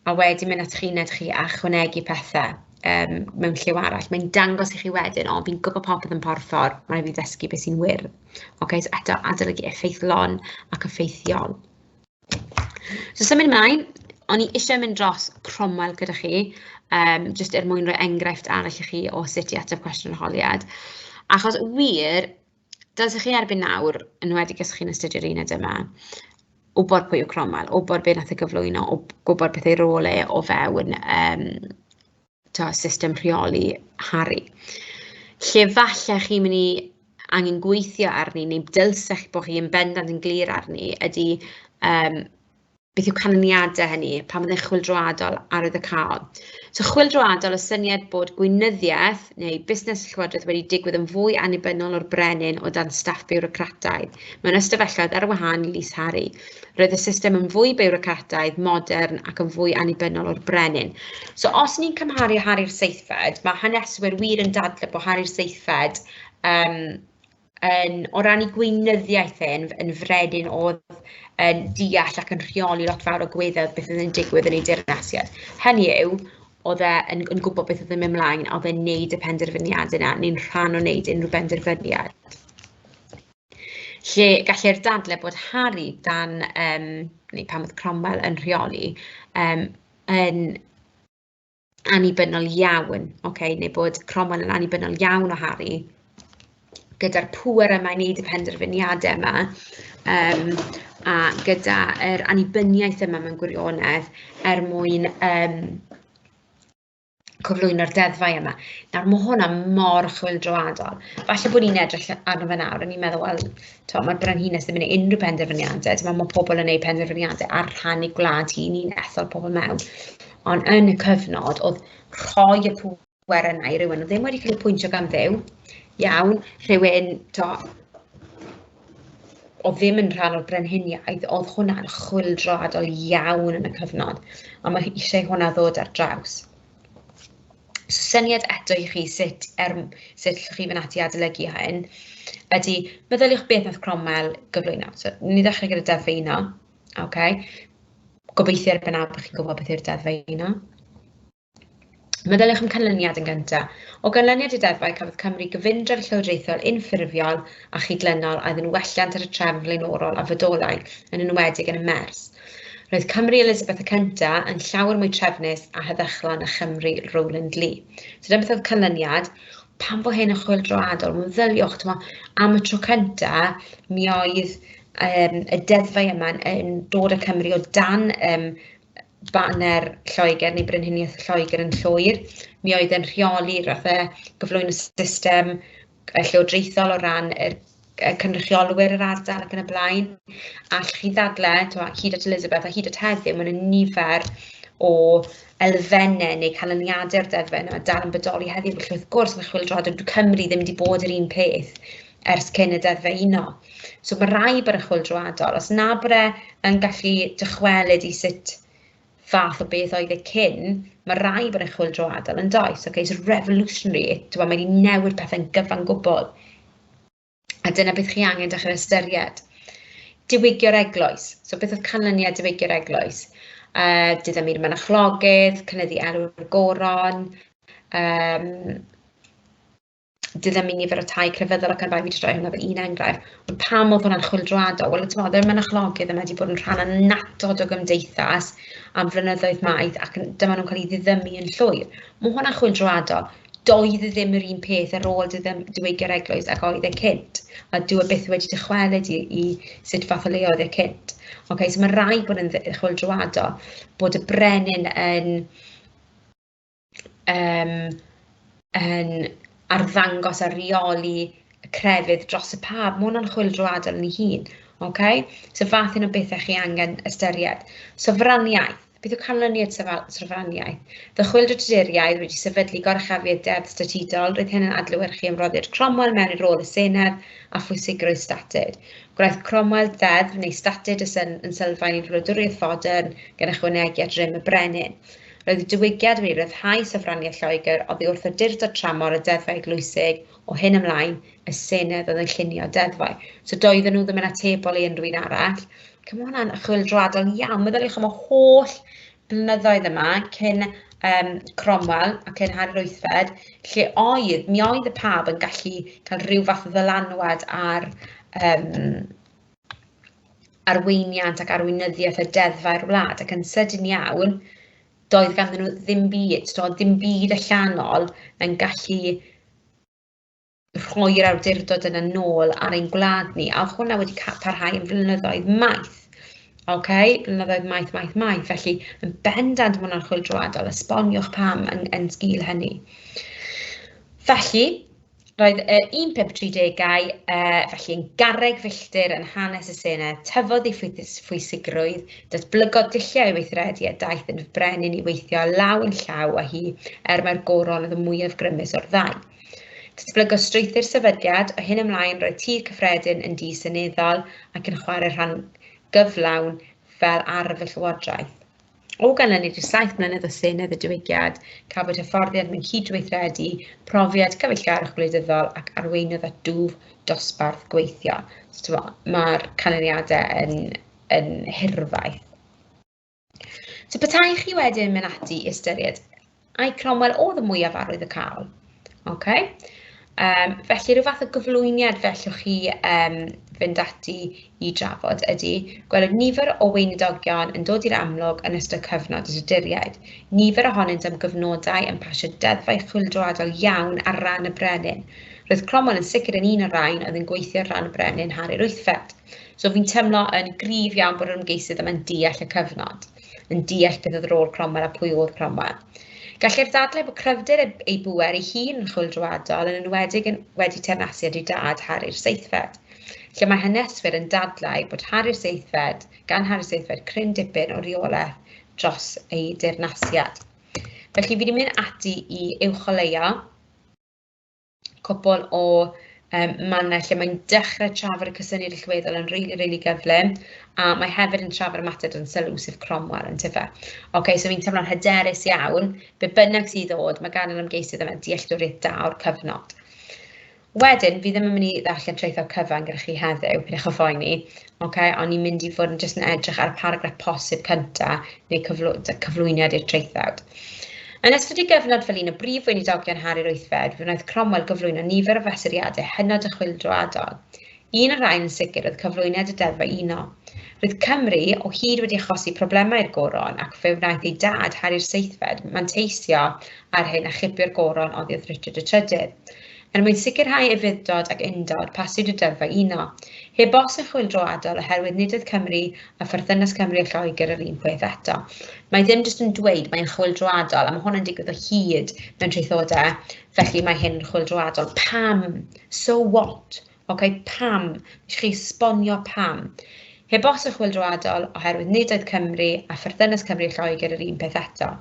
a wedyn mynd ato'ch uned chi a chwanegu pethe yym mewn lliw arall. Mae'n dangos i chi wedyn, o fi'n gwybod popeth yn porffor, ma' raid fi ddysgu be sy'n wir. Ocê so eto adolygu effeithlon ac effeithiol. So symud ymlaen, o'n i eisiau mynd dros Cromwell gyda chi, um, jyst er mwyn rhoi enghraifft arall i chi o sut i ateb cwestiwn holiad. Achos wir, Dyl sy'ch chi erbyn nawr, yn wedi os chi'n astudio'r uned yma, wybod pwy yw Cromwell, wybod beth nath e gyflwyno, gwybod beth ei rôl e o fewn um, to, system rheoli Harry. Lle falle chi'n mynd i angen gweithio arni, neu dylsech bod chi yn bendant yn glir arni, ydy um, beth yw canlyniadau hynny pan fydde'n chwildroadol arwyddocaol. So chwildroadol y syniad bod gweinyddiaeth neu busnes llywodraeth wedi digwydd yn fwy annibynnol o'r brenin o dan staff biwrocrataidd. Mewn ystafelloedd ar wahân i Lys Harry, roedd y system yn fwy biwrocrataidd, modern ac yn fwy annibynnol o'r brenin. So os ni'n cymharu Harry'r seithfed, mae haneswyr wir yn dadle bod Harry'r seithfed um, yn, o ran ei gweinyddiaeth e, yn, yn fredyn oedd yn deall ac yn rheoli lot fawr o gweddau beth oedd yn digwydd yn ei dirnasiad. Hynny yw, oedd e yn, yn gwybod beth oedd yn mynd mlaen, oedd e'n neud y penderfyniad yna, neu'n rhan o wneud unrhyw benderfyniad. Lle gallai'r dadle bod Harry dan, um, neu pan oedd Cromwell yn rheoli, um, yn annibynnol iawn, okay, neu bod Cromwell yn annibynnol iawn o Harry, gyda'r pŵer yma i wneud y penderfyniadau yma, um, a gyda yr annibyniaeth yma mewn gwirionedd er mwyn um, cyflwyno'r deddfau yma. Nawr, mae hwnna mor chwildroadol. Falle bod ni'n edrych arno fe nawr, a ni'n meddwl, wel, to, mae'r brenhines ddim yn ei unrhyw penderfyniadau, dyma mae pobl yn ei penderfyniadau ar rhan ei gwlad hi, ni'n ethol pobl mewn. ond yn y cyfnod oedd rhoi y pwer yna i rywun oedd ddim wedi cael ei pwyntio gan ddew, iawn, rhywun to, o ddim yn rhan o'r brenhiniaeth, oedd hwnna'n chwildroadol iawn yn y cyfnod, a mae eisiau hwnna ddod ar draws. So syniad eto i chi sut, er, sut llwch chi fynd ati adolygu hyn, ydy meddyliwch beth nath Cromwell gyflwyno. So, ni ddechrau gyda Delfino, okay? Gobeithio erbyn nawr bod chi'n gwybod beth yw'r deddfau yna. Meddyliwch am canlyniad yn gyntaf. O ganlyniad i deddfau, cafodd Cymru gyfundrefn llywodraethol unffurfiol a chydlynol a oedd yn welliant ar y trefn flaenorol a fodolai, yn enwedig yn y mers. Roedd Cymru Elizabeth y Cynta yn llawer mwy trefnus a heddychlon na Chymru Rowland Lee. So dyna beth oedd canlyniad. Pan fo hyn yn chwyldroadol, meddyliwch, am y tro cynta, mi oedd yym y deddfau yma yn dod â Cymru o dan yym baner Lloegr neu Brenhiniaeth Lloegr yn llwyr, mi oedd e'n rheoli fatha cyflwyn y system yy llywodraethol o ran yr yy cynrychiolwyr yr ardal ac yn y blaen, a allwch chi ddadlau timod hyd at Elizabeth a hyd at heddiw ma' 'na nifer o elfenne neu canlyniade'r deddfau yna dal yn bodoli heddiw, felly wrth gwrs ma' Chwyldroadwy Cymru ddim 'di bod yr un peth ers cyn y Deddf Uno. So mae rai bod y chwyl drwyadol, os na bod e yn gallu dychwelyd i sut fath o beth oedd e cyn, mae rai bod y chwyl drwyadol yn does, okay, so revolutionary, mae wedi newid pethau'n gyfan gwbl. A dyna beth chi angen dechrau ystyried. Diwygio'r eglwys, so beth oedd canlyniad diwygio'r eglwys? Uh, Dydym i'r mynachlogydd, cynyddu elw'r goron, um, Dyna mi nifer o tai crefyddol ac arfau fi wedi rhoi hwnna fel un enghraifft. Ond pam oedd hwnna'n chwyldroadol? Wel, ti'n meddwl, mae mynychlogydd yma wedi bod yn rhan annatod o gymdeithas am flynyddoedd maith ac dyma nhw'n cael ei ddiddymu yn llwyr. Mae hwnna'n chwyldroadol. Doedd e ddim yr un peth ar ôl diwygi'r eglwys ac oedd e cynt. A dwi e byth wedi dychwelyd i, i sut fath o le oedd e cynt. Okay, so mae rai bod yn chwyldroadol, bod y brenin yn yym yn arddangos a rheoli y crefydd dros y pâd, ma' hwnna'n chwyldroadol yn ei hun, ocê? So fath un o bethe chi angen ystyried. Sofraniaeth, beth yw canlyniad syfa- sofraniaeth? Fe chwyldro Tuduriaid wedi sefydlu gorchafiad deddf statudol, roedd hyn yn adlewyrchu ymroddiad Cromwell mewn i'r rôl y Senedd a phwysigrwydd statud. Gwnaeth Cromwell ddeddf neu statud y syn- yn sylfaen i'r wladwriaeth fodern gan ychwanegu at rym y brenin. Roedd y diwygiad wedi rhyddhau sofraniaeth Lloegr oddi wrth awdurdod tramor y deddfau eglwysig, o hyn ymlaen, y Senedd oedd yn llunio'r deddfau. So doedden nhw ddim yn atebol i unrhyw un arall. Ac mae hwnna'n chwyldroadol iawn. Meddyliwch am y holl blynyddoedd yma cyn um, Cromwell a cyn Harri'r Wythfed, lle oedd, mi oedd y pab yn gallu cael rhyw fath o ddylanwad ar um, arweiniant ac arweinyddiaeth y deddfau'r wlad, ac yn sydyn iawn, doedd ganddyn nhw ddim byd, doedd ddim byd allanol yn gallu rhoi'r awdurdod yna nôl ar ein gwlad ni, a oedd hwnna wedi parhau yn flynyddoedd maith. OK, blynyddoedd maith, maith, maith. Felly, yn bendant mae hwnna'n chwildroadol, esboniwch pam yn, yn sgil hynny. Felly, Roedd y 1530au uh, felly yn garreg filltir yn hanes y Senedd, tyfodd ei phwysigrwydd, datblygodd dulliau weithredu a daeth yn frenin i weithio law yn llaw â hi, er mae'r goron oedd y mwyaf grymus o'r ddau. Datblygodd strwythyr sefydliad, o hyn ymlaen roedd tir cyffredin yn di seneddol ac yn chwarae rhan gyflawn fel arf y llywodraeth. O ganlyniad i'r saith mlynedd o Senedd y Diwygiad, cafwyd hyfforddiant mewn cydweithredu, profiad cyfeillgarwch gwleidyddol ac arweinydd at dwf dosbarth gweithio. So, Mae'r canlyniadau yn, yn hirfaith. So, petai chi wedyn mynd ati i ystyried Ai Cromwell oedd y mwyaf arwydd y cael? Okay. Um, felly rhyw fath o gyflwyniad fellwch chi um, fynd ati i drafod ydy gweld nifer o weinidogion yn dod i'r amlwg yn ystod cyfnod y Tuduriaid. Nifer ohonynt am gyfnodau yn pasio deddfau chwildroadol iawn ar ran y brenin. Roedd Cromwell yn sicr yn un o'r rhain oedd yn gweithio ar ran y brenin Harri'r Wythfed. So fi'n teimlo yn gryf iawn bod yr ymgeisydd yma'n deall y cyfnod. yn deall beth oedd rôl Cromwell a pwy oedd Cromwell. Gallai'r ddadlau bod cryfder ei bŵer ei hun yn chwyldroadol yn enwedig yn wedi teyrnasu â dad Harri'r Seithfed, lle mae haneswyr yn dadlau bod Harri'r Seithfed, gan Harri'r Seithfed cryn dipyn o reolaeth dros ei deyrnasiad. Felly fi wedi mynd ati i uwcholeuo cwpl o yym mannau lle mae'n dechrau trafod y cysyniad allweddol yn rili rili gyflym a mae hefyd yn trafod y mater dan sylw sef Cromwell yn tyfe. Ocê so fi'n teimlo'n hyderus iawn be bynnag sydd ddod mae gan yr ymgeisydd yma dealltwriaeth da o'r cyfnod. Wedyn, fi ddim yn mynd i ddarllen traethawd cyfan gyda chi heddiw, pidwch o phoeni, Okay, o'n i'n mynd i fod yn jyst yn edrych ar y paragraff posib cynta neu cyflw cyflwyniad i'r traethawd. Yn ystod ei gyfnod fel un o brif weinidogion Harri'r Wythfed, fe wnaeth Cromwell gyflwyno nifer o fesuriadau hynod y chwildroadol. Un o'r rhain yn sicr oedd cyflwyniad y Deddfau Uno. Roedd Cymru o hyd wedi achosi problemau i'r goron ac fe wnaeth ei dad, Harri'r Seithfed, manteisio ar hyn a chipio'r goron oddi wrth Richard y Trydydd. Er mwyn sicrhau efuddod ac undod, pasiwyd y deddf a'i uno. Heb os yn chwyldro adol oherwydd nid oedd Cymru a pherthynas Cymru a Lloegr yr un peth eto. Mae ddim jyst yn dweud mae'n chwyldroadol, a mae hwn yn digwydd o hyd mewn traethodau, felly mae hyn yn chwyldroadol. Pam? So what? Ok, pam? Nes chi esbonio pam. Heb os yn chwyldroadol oherwydd nid oedd Cymru a pherthynas Cymru a Lloegr yr un peth eto.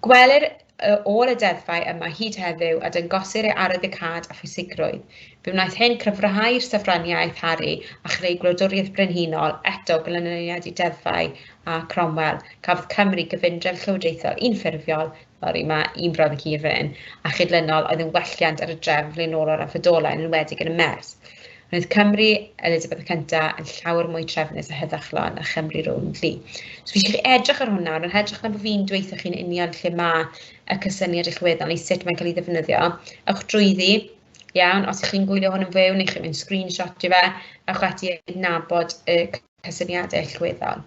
Gwelir y ôl y deddfau yma hyd heddiw a dyngosir ei arwyddocâd a phwysigrwydd. Fe wnaeth hyn cryfhau'r sofraniaeth Harri a chreu gwladwriaeth brenhinol, eto glanlyniad i deddfau a Cromwell. Cafodd Cymru gyfundrefn llywodraethol unffurfiol, sori mae un brawddeg hir fan hyn, a chydlynol oedd yn welliant ar y drefn flaenorol a ffodolai yn enwedig yn y Mers. Roedd Cymru, Elizabeth y Cynta, yn llawr mwy trefnus a heddychlon na Chymru rownd fi. So fi eisiau chi edrych ar hwnna, yn hedrych na bod fi'n dweithio chi'n union lle mae y cysyniad i'ch weddol neu sut mae'n cael ei ddefnyddio. Ewch drwyddi, iawn, os ydych chi'n gwylio hwn yn fyw neu chi'n mynd screenshot i fe, ewch ati adnabod y cysyniadau eich weddol.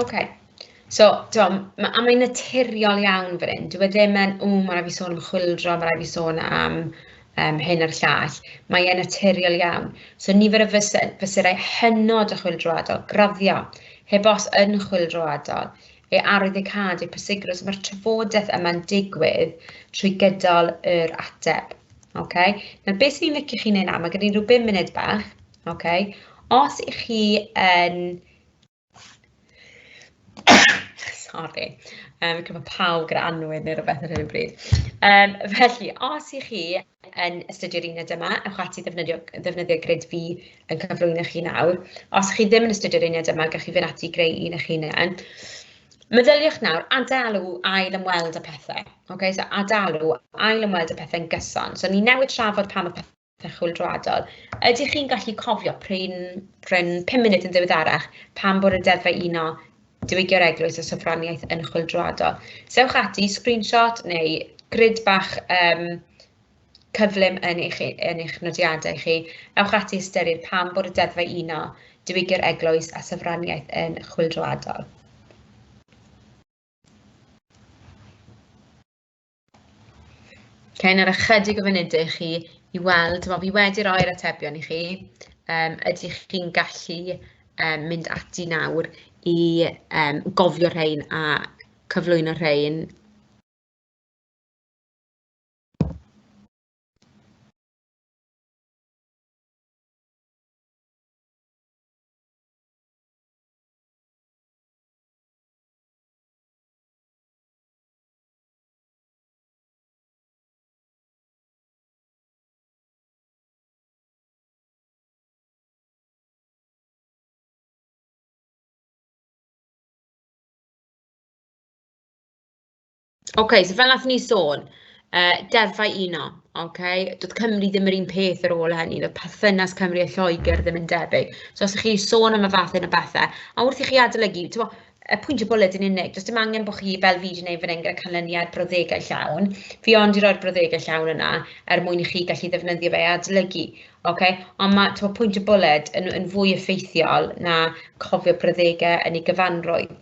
OK. So, ti'n ma, a mae'n naturiol iawn fan hyn. Dyw e ddim yn, o, mae rhaid fi sôn am chwildro, mae rhaid fi sôn am um, hyn a'r llall. Mae e'n naturiol iawn. So, nifer y fyserau hynod o chwildroadol, graddio, heb os yn chwildroadol, ei arwyddocâd, ei pwysigrwydd. So, mae'r trafodaeth yma'n digwydd trwy gydol yr ateb. Okay? Nawr, beth sy'n ni'n licio chi wneud nawr? Mae gen i rhyw bum munud bach. Okay? Os ych chi yn... Sorry, um, gyda pawb gyda anwyd neu rhywbeth ar hyn o bryd. Um, felly, os ych chi yn astudio'r uned yma, ewch ati ddefnyddio, ddefnyddio grid fi yn cyflwyno chi nawr. Os ych chi ddim yn astudio'r uned yma, gallwch chi fynd ati greu un eich hunain. Meddyliwch nawr, adalu ail ymweld y pethau. Okay, so adalu ail ymweld y pethau'n gyson. So ni newid trafod pa mae Pethau chwyldroadol. Ydych chi'n gallu cofio pryn, pryn 5 munud yn ddiweddarach pan bod y deddfau uno diwygio'r eglwys o sofraniaeth yn chwyldroadol? Sewch ati, screenshot neu grid bach um, cyflym yn eich, yn eich nodiadau chi, ewch ati ystyried pam bod y deddfau uno, diwygio'r eglwys a sofraniaeth yn chwildroadol. Okay, nawr ychydig o funudau i chi i weld, wel, fi wedi roi'r atebion i chi. Um, ydych chi'n gallu um, mynd ati nawr i um, gofio rhain a cyflwyno rhain Ok so fel wnaethon ni sôn yy deddfau uno ok, doedd Cymru ddim yr un peth ar ôl hynny, doedd perthynas Cymru a Lloegr ddim yn debyg, so os 'y chi'n sôn am y fath yna o bethe, a wrth i chi adolygu, timod, y pwyntiau bwled yn unig, does dim angen bod chi fel fi wedi gwneud fan hyn gyda canlyniad brawddegau llawn, fi ond i roi'r brawddegau llawn yna er mwyn i chi gallu ddefnyddio fe i adolygu. Okay? Ond mae to, pwynt y bwled yn, yn fwy effeithiol na cofio brawddegau yn ei gyfanrwydd.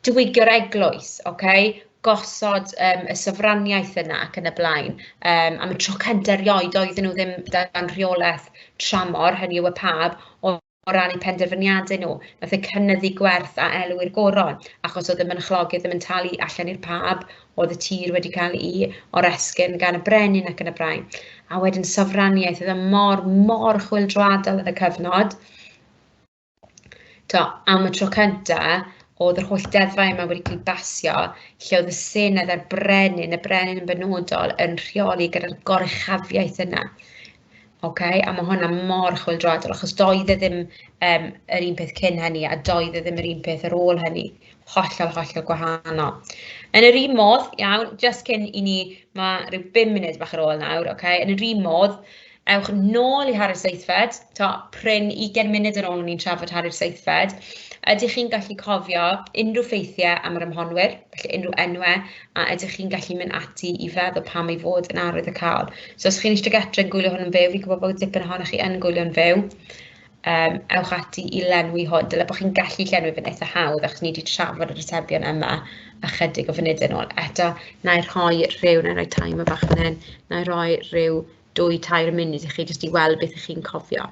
Diwygio'r eglwys, okay? gosod um, y sofraniaeth yna ac yn y blaen. Um, am y tro cyntaf erioed oedden nhw ddim dan rheolaeth tramor, hynny yw y pab, ond o ran eu penderfyniadau nhw, wnaeth e cynyddu gwerth a elw i'r goron, achos oedd y mynchlogydd ddim yn talu allan i'r pab, oedd y tir wedi cael ei oresgyn gan y brenin ac yn y braen. A wedyn sofraniaeth, oedd e mor, mor chwildroadol yn y cyfnod. To, am y tro cyntaf, oedd yr holl deddfau yma wedi cael basio, lle oedd y Senedd a'r Brenin, y Brenin yn benodol, yn rheoli gyda'r gorechafiaeth yna. Oce, a mae hwnna mor chwyldroadol, achos doedd e ddim um, yr un peth cyn hynny, a doedd e ddim yr un peth ar ôl hynny. Hollol, hollol gwahanol. Yn yr un modd, iawn, just cyn i ni, mae rhyw 5 munud bach ar ôl nawr, oce, okay? yn yr un modd, ewch nôl i Harri'r Seithfed, to, pryn 20 munud yn ôl o'n i'n trafod Harri'r Seithfed, ydych chi'n gallu cofio unrhyw ffeithiau am yr ymhonwyr? felly unrhyw enwau a ydych chi'n gallu mynd ati i feddwl pam ei fod yn arwyddocaol. So os chi'n eistedd gytre yn gwylio hwn yn fyw, fi'n gwybod bod dipyn ohonoch chi yn gwylio'n fyw, um, ewch ati i lenwi hwn. Dyle bod chi'n gallu llenwi fe'n eitha hawdd achos ni wedi trafod yr atebion yma ychydig o funudau yn ôl. Eto, na i rhoi rhyw, na i rhoi time o bach yn hyn, na i rhoi rhyw dwy tair munud i chi jyst i weld beth ych chi'n cofio.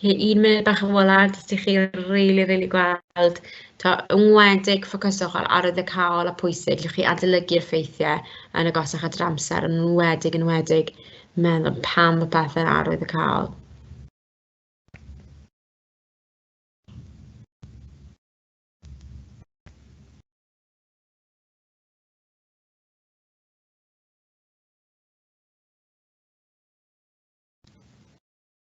Felly un munud bach yn ola jyst i chi rili rili gweld t'o' yn enwedig ffocyswch ar arwyddocâol a phwysig, lle chi adolygu'r ffeithiau yn agosach at yr amser, yn enwedig yn enwedig meddwl pam y pethau'n arwyddocâol.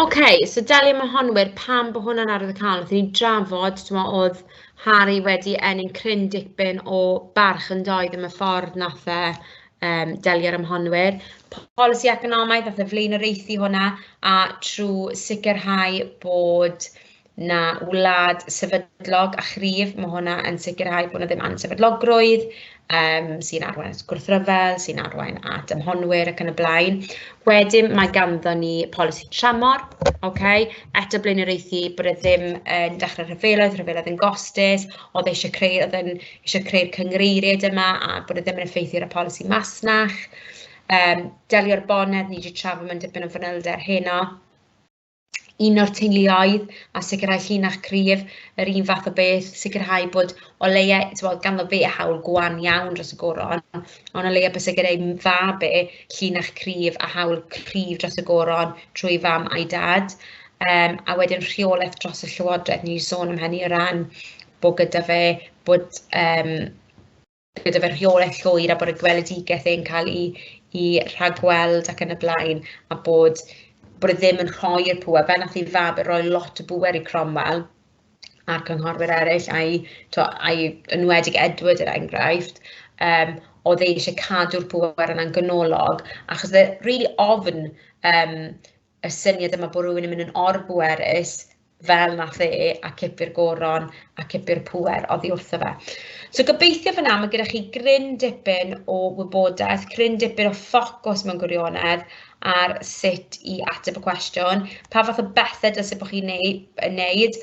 Ok, so delio mae hon wir pam bod hwnna'n arwydd y cael. Wnaethon ni drafod, ti'n meddwl, oedd Harry wedi ennill cryn dipyn o barch yn doedd yn y ffordd nath e um, delio â'r ymhonwyr, polisi economaidd a flaenoriaethu hwnna a trwy sicrhau bod na wlad sefydlog a chryf, mae hwnna yn sicrhau bod na ddim ansefydlogrwydd um, sy'n arwain at gwrthryfel, sy'n arwain at ymhonwyr ac yn y blaen. Wedyn mae ganddo ni polisi tramor, okay? eto blaenoriaethu bod e ddim yn dechrau rhyfeloedd, rhyfeloedd yn gostus, oedd eisiau creu, oedd yn eisiau creu'r cynghreiriaid yma a bod e ddim yn effeithio ar y polisi masnach. Um, delio'r bonedd, ni wedi trafod mewn dipyn o fanylder heno. Un o'r teuluoedd a sicrhau llinach cryf, yr un fath o beth, sicrhau bod o leia, tywod, ganddo fe a hawl gwan iawn dros y goron, ond o leia bys gyda'i fab e, llinach cryf a hawl cryf dros y goron trwy fam a'i dad. Um, a wedyn rheolaeth dros y llywodraeth, ni'n sôn am hynny o ran bod gyda fe, bod um, gyda fe rheolaeth llwyr a bod y gweledigaeth e'n cael ei, ei rhagweld ac yn y blaen, a bod, bod e ddim yn rhoi'r pŵer, fe nath ei fab e roi lot o bŵer i Cromwell a'r cynghorwyr eraill, a'i, to, a'i enwedig Edward er enghraifft, um, oedd e eisiau cadw'r pŵer yna'n gynolog, achos oedd e rili really ofn um, y syniad yma bod rhywun yn mynd yn orbwerus fel nath e a cipio'r goron a cipio'r pŵer oddi wrtho fe. So gobeithio fyna mae gyda chi gryn dipyn o wybodaeth, cryn dipyn o ffocws mewn gwirionedd ar sut i ateb y cwestiwn, pa fath o bethau dylse bod chi'n ei wneud,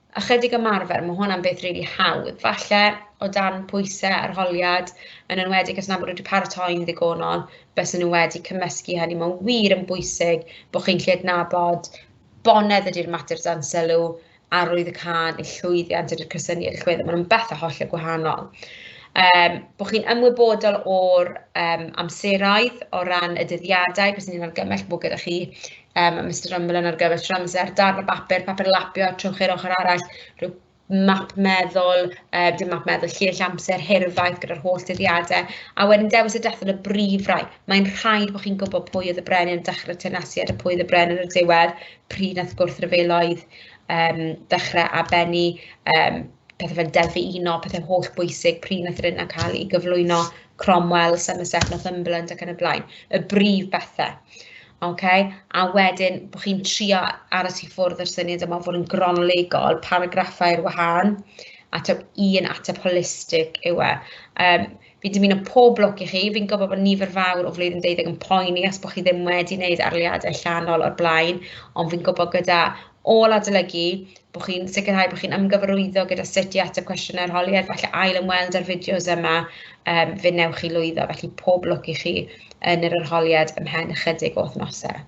ychydig ymarfer, ma' hwnna'n beth rili hawdd, falle o dan pwysau arholiad, yn enwedig os nad bod nhw wedi paratoi'n ddigonol, bysen nhw wedi cymysgu hynny, mae'n wir yn bwysig bod chi'n gallu adnabod bonedd ydy'r mater dan sylw, arwydd y cân, y llwyddiant ydy'r cysyniad llwyddo, maen nhw'n bethau hollol gwahanol. Um, bod chi'n ymwybodol o'r um, amseroedd o ran y dyddiadau, beth sy'n argymell bod gyda chi um, Mr Rumblen ar gyfer tro amser, darn o bapur, papur lapio, trwch i'r ochr arall, rhyw map meddwl, uh, dim map meddwl, lleill amser, hirfaith gyda'r holl dyddiadau, a wedyn dewis y dethol y brif rai. Mae'n rhaid bod chi'n gwybod pwy oedd y brenin yn dechrau tenasiad a pwy oedd y brenin yn y diwedd, pryd nath gwrthryfeloedd um, dechrau a benni, um, pethau fel deddfu uno, pethau holl bwysig, pryd nath yr unna cael ei gyflwyno, Cromwell, Somerset, Northumberland ac yn y blaen, y brif bethau. ok, a wedyn bod chi'n trio aros i ffwrdd o'r syniad yma o fod yn gronolegol, paragraffau ar wahân, a taw un ateb holistig yw e. Um, fi'n dymuno pob lwc i chi, fi'n gwybod bod nifer fawr o flwyddyn deuddeg yn poeni os bod chi ddim wedi wneud arliadau llanol o'r blaen, ond fi'n gwybod gyda ôl adolygu, bod chi'n sicrhau bod chi'n ymgyfarwyddo gyda sut i ateb cwestiynau arholiad, falle ail ymweld â'r fideos yma, um, fe newch chi lwyddo, felly pob lwc i chi yn yr arholiad ymhen ychydig o wythnosau.